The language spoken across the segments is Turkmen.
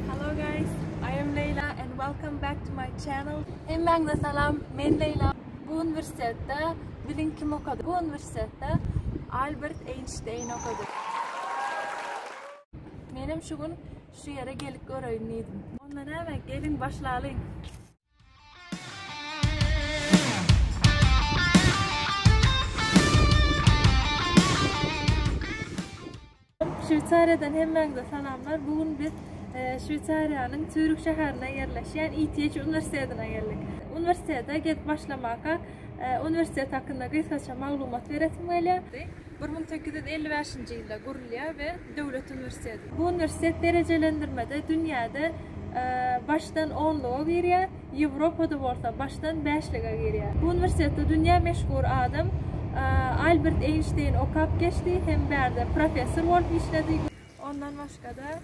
Hello guys, I am Leyla and welcome back to my channel. Hemmäňize salam, men Leyla. Bu uniwersitetde bilin kim okady? Bu uniwersitetde Albert Einstein okady. Menem şu gün şu ýere gelip göreýin diýdim. Onda näme, gelin başlalyň. Şweýsariýadan hemmäňize salamlar. Bu gün biz Şweýsariýanyň Sýurih şäherinde ýerleşýän ITH uniwersitetine geldik. Uniwersitete gelip başlamaka uniwersitet hakynda gysgaça maglumat beresim gelýär. Bir müň sekiz ýüz elli bäşinji ýylda gurulýar we döwlet uniwersiteti. Bu uniwersitet derejelendirmede dünýäde başdan onluga girýär, Ýewropada bolsa başdan bäşlige girýär. Bu uniwersitetde dünýä meşhur adam Albert Eýnşteýn okap geçdi hem bärde professor bolup işledi. Ondan başga-da,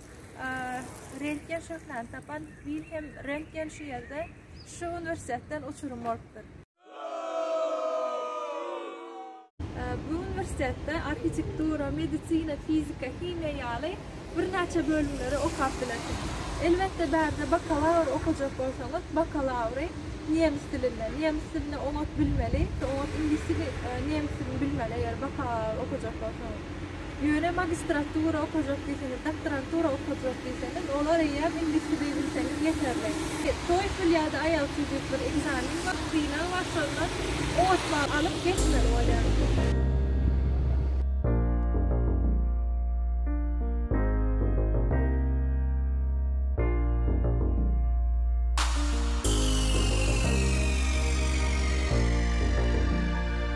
rentgen şöhlerini tapan Wilhelm Rentgen şu ýerde, şu uniwersitetden uçurym bolupdyr. Bu uniwersitetde arhitektura, medisina, fizika, himiýa ýaly birnäçe bölümleri okap bilersiňiz. Elbetde bärde bakalawr okajak bolsaňyz, bakalawry nemes dilinde, nemes dilini oňat bilmeli, oňat iňlis dilini, nemes dilini bilmeli eger bakalawr okajak bolsaňyz. Ýöne magistratura okajak diýseňiz, doktorantura okajak diýseňiz, olar eýýäm iňlis dili bilseňiz ýeterli. TOEFL ýa-da IELTS diýip bir ekzamen bar, synag bar, şondan ot bal alyp geçmeli bolýar.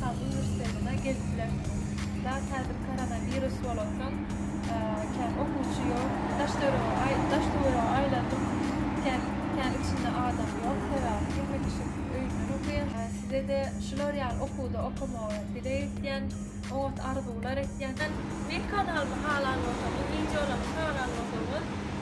Saglyk uniwersitetine gelip bilersiňiz. Dal häzir koronawirus bolan soň kän okuwçy ýok. Daş-töwerege aýlandym, kän içinde adam ýok, sebäbi hemme kişi öýünden okaýar. Size-de şular ýaly okuwda okamagy dileg etýän, oňat arzuwlar etýän. Men kanalymy halan bolsaňyz, wideolarymy halan bolsaňyz.